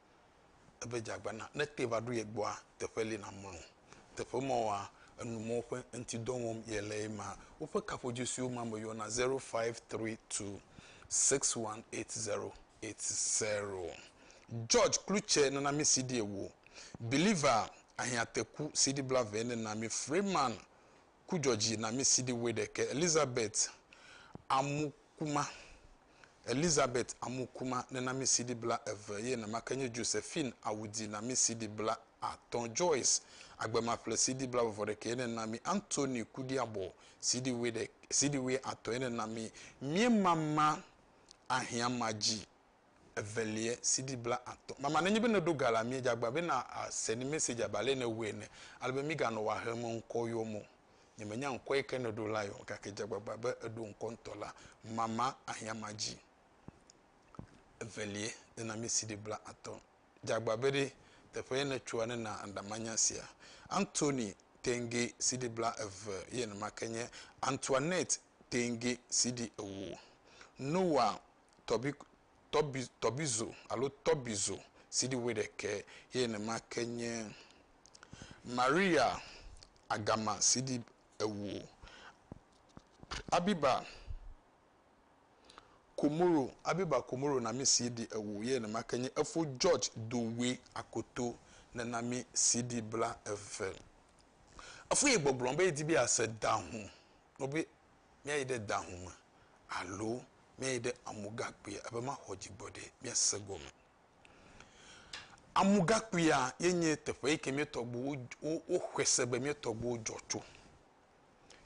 ebe dzeagbe na ne ete va ɖo ye gbɔa, teƒe li namlɔ o. Teƒe ma woa, enu mawo ƒe ŋuti dɔ wɔm yele ye ma. Woƒe kaƒodzi siwo ma me yɔna, zero five tri tu six wan eit zero eit zero. George Kluche nana mi CD ewo, Believer, Ahiãteku, CD blaeve nena mi Freeman ku dzɔdzi na mí sidi wuiɖekɛ. Elizabeth amu kuma. Elizabeth amu kuma nena mí sidi bla eve ye nɛma ke nye Josephine awu di na mí sidi bla atɔ. Joyce agbemaƒle sidi bla vɔvɔ ɖekɛ ye nena mí. Anthony kudi abɔ sidi wuiɖe sidi wui atɔ ye nena mí. Míema ma ahiã ma dzi evelie CD bla atɔ. Mama nenye be neɖo ga la mie djagba be na se ni message abe ale ne wue ene ale be mi ga nɔ wa hem ŋkɔ yɔ mo nye me nya ŋkɔ yike ne ɖo la yɔ gake djagbagba be eɖo ŋkɔ ŋtɔ la mama ahia ma dji evelie ne na mi CD bla atɔ djagba be ɖe teƒe ye ne tsoa ne na aŋɖa ma nya sia Anthony Tenge CD bla eve ye ne ma ke nye Antoinette Tenge CD ewo Noah tɔbi, tɔbi, tɔbizo alo tɔbizo sidi wuiɖekɛ ye nenema ke nye Maria agama sidi ewo, Abiba Komoro, Abiba Komoro nami sidi ewo ye nenema ke nye Efo George Dowe Akoto nenami sidi bla eve. Efu ye gbɔgblɔ be yedi be yease dahu nobe míayi ɖe da ŋu me alo míayi ɖe amugakpuia be maxɔ dzigbɔɖi míase gɔme. Amugakpuia ye nye teƒe yi ke mía tɔgbuiwo woxɔe se be mía tɔgbuiwo dzɔ tso.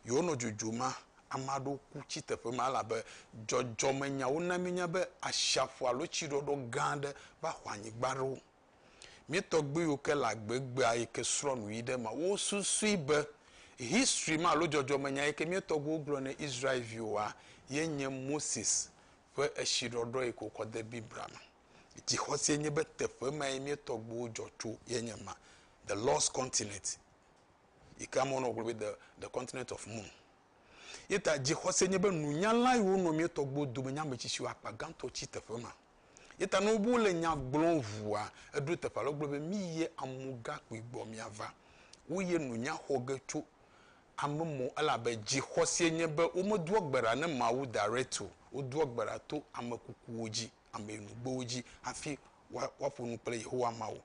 Yewonɔ dzodzo ma, ame aɖewo ku tsi teƒe ma elabe dzɔdzɔmenyawo na míenya be ashiaƒu alo tsiɖɔɖɔ gã aɖe va xɔ anyigba ɖo. Mietɔgbuiwo ke le agbe gbea yi ke srɔ̃ nu yi ɖe ema. Wo susui be history ma alo dzɔdzɔme nya yi ke mietɔgbuiwo gblɔ ne Israel viwoa ye nye Moses ƒe etsi ɖɔɖɔ yi ke wokɔ de Biblia me. Dzixɔse enye be teƒe ma ye mietɔgbuiwo dzɔ tso ye nye ma, the lost continent yi ke amewo nɔ gblɔ be the the continent of moon. Ye ta dzixɔse enye be nunyala yiwo nɔ mietɔgbuiwo dome nye ametsitsiwo akpa gãtɔ tsi teƒe ma. Ye ta ne wobe wole nya gblɔm ŋua, eɖo teƒe alo gblɔ be, Mi ye amu gakpui gbɔ miava. Wo ye no nya xɔ ge tso ame mɔ elabe dzixɔseɛ nye be womedoa gbe ɖa ne Mawu direct o. Wodoa gbe ɖa to ame kukuwo dzi, ame nugbewo dzi hafi woa, woaƒo nu kple Yehowa Mawu.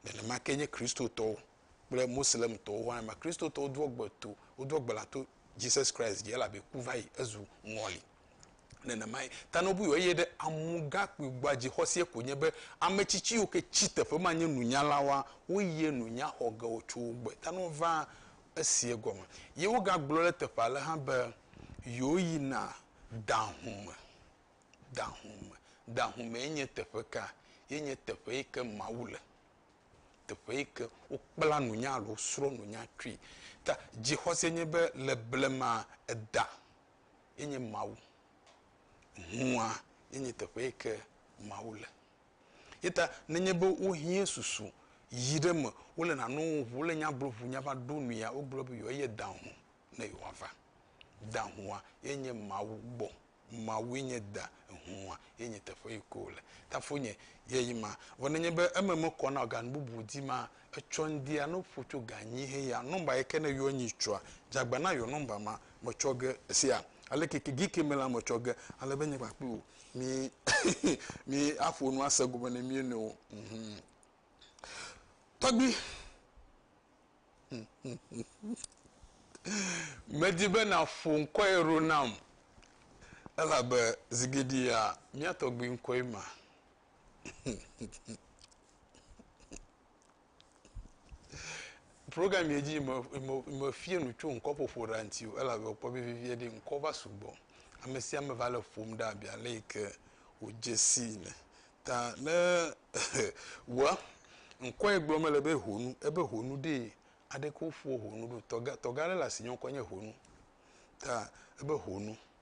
Nenema kee nye Kristotɔwo kple Moslemtɔwo hã ema. Kristotɔwo doa gbe to, wodoa gbe ɖa to Jesus Christ dzi elabe ku va yi, ezu ŋɔli. Nenemae ta ne wobui eye ɖe amugakpui gbɔa dzixɔseɛ ko nye be ame tsitsi yiwo ke tsi teƒe ma nye nunyalawoa, woyie nunya xɔ ge wotso wo gbɔe. Ta ne wovaa eseɛ gɔme. Ye wogagblɔ ɖe eteƒe ale hã be yewòyina dahũ me. Dahũ me. Dahũ mee nye teƒe ka? Ye nye teƒe yi ke Mawu le. Teƒe yi ke wokpla nunya alo wosrɔ̃ nunya tsoe. Ta dzixɔse nye be le blema eda ye nye Mawu. Hũa ye nye teƒe yi ke Mawu le. Ye ta nenye be wohiã susu yi ɖe eme, wole nane wɔm ŋu, wole nya gblɔm ŋu, nya va ɖo nuya, wogblɔ be yewoayi eda hũ ne yewoava. Da hũa ye nye Mawu gbɔ. Mawue nye da, hũa ye nye teƒe yi ke wole. Ta foinye, ye yi ma. Vɔ nenye be eme mekɔ na o, ga nu bubu dim maa, etsɔ ŋdia no ƒo tso ga nyi he ya nɔmba yike ne yɔ nyi tsɔa dzagba na yɔ nɔmba ma me tsɔ ge esia ale keke gi ke me la me tsɔ ge ale be nye kpakple wò mi hehe mi aƒo nu ase gome ne mi nɔewo mhm tɔgbi medi be na ƒo ŋkɔ ye ro nam elabe zigidia mia tɔgbi ŋkɔe ma Program yɛ dzi mefia nu tso ŋkɔƒoƒo ɖa ŋuti o elabe mekpɔ be vevie ɖi ŋkɔ va sugbɔ. Ame sia ame va le ƒom ɖa abe ale yi ke wòdze sii ene. Ta ne wɔ ŋkɔ yɛ gblɔm mele be honu ebe honu ɖee aɖeke woƒoa honu ɖo. Tɔgã aɖe le asi nye ŋkɔ nye honu ta ebe honu.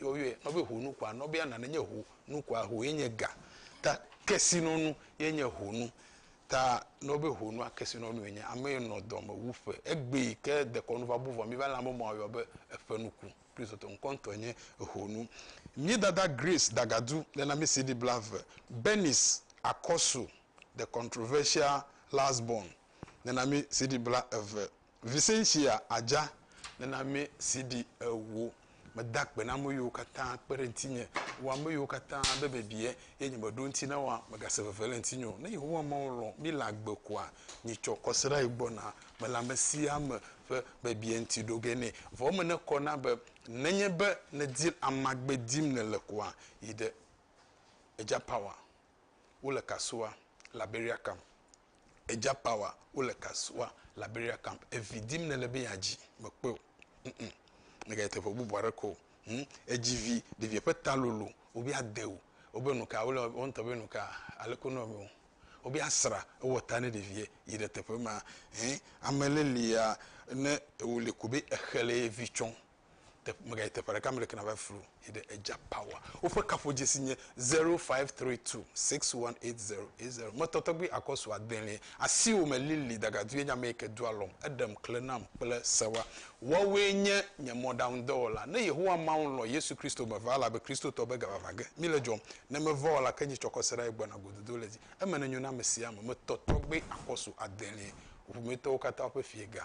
yɔyɔe nɔ be ho nu kɔa nɔ be ana ne nye ho nu kɔa ho ye nye ga ta kesi nɔ nu ye nye ho nu ta nɔ be ho nua kesi nɔ nu ye nye ame yi nɔ dɔ me wu ƒe egbe yi ke dekɔ nu va bu vɔ mi va le ame mɔ yɔ be eƒe nu ku kristu tɔ ŋkɔ ŋtɔ nye eho nu mi dada grace dagadu le na mi si di bla ve benis akɔsu the controversial last born le na mi si di bla eve Vicentia Adja, nename CD ewo. Meda akpe na ame yiwo katã kpe ɖe ŋutinye, wɔ ame yiwo katã be bebie, eye nye meɖo eŋuti na woa, megase veve le ŋutinye o. Ne Yehowa Mawu lɔ̃ mí le agbe koa, mitsɔ kɔsiɖa yi gbɔna me le amesiame ƒe bebie ŋuti ɖo ge nɛ. Vɔ eme nekɔ na be nenye be nèdi amagbe dim nèle koa, yi ɖe Edja Power. Wole Kasoa, Liberia Camp. edza pawa wole kasuwa liberia camp evi dim nele be yadzi mekpɔe o mm mega yi teƒe bubu aɖe ko mm edzi vi ɖevia ƒe ta lolo wobe ade o wobe nuka wole wɔn tɔ be nuka aleke nɔ me o wobe asra ewɔ ta ne ɖevia yi ɖe teƒe ma hɛn ame le lia ne wole ko be exele vi tsɔ te, megayi teƒe ɖeka mele kena va flu yi ɖe edza power. Woƒe kaƒodzesi nye 0532618080. Metɔ tɔgbui akɔsu adelie, asiwo me lili dagadue nye ame yi ke doa alɔm, eɖem, kle nam kple sewa. Woawoe nye nye mɔɖaŋudɔwɔla. Ne Yehowa Mawu lɔ̃ Yesu Kristo me va elabe Kristotɔ be gavava ge míle dzɔm. Ne meva o la, ke nye tsɔkɔseɖae gbɔna gododo le dzi. Eme nenyo na ame sia ame. Metɔ tɔgbui akɔsu adelie, ŋuƒometɔwo katã ƒe Fiegã.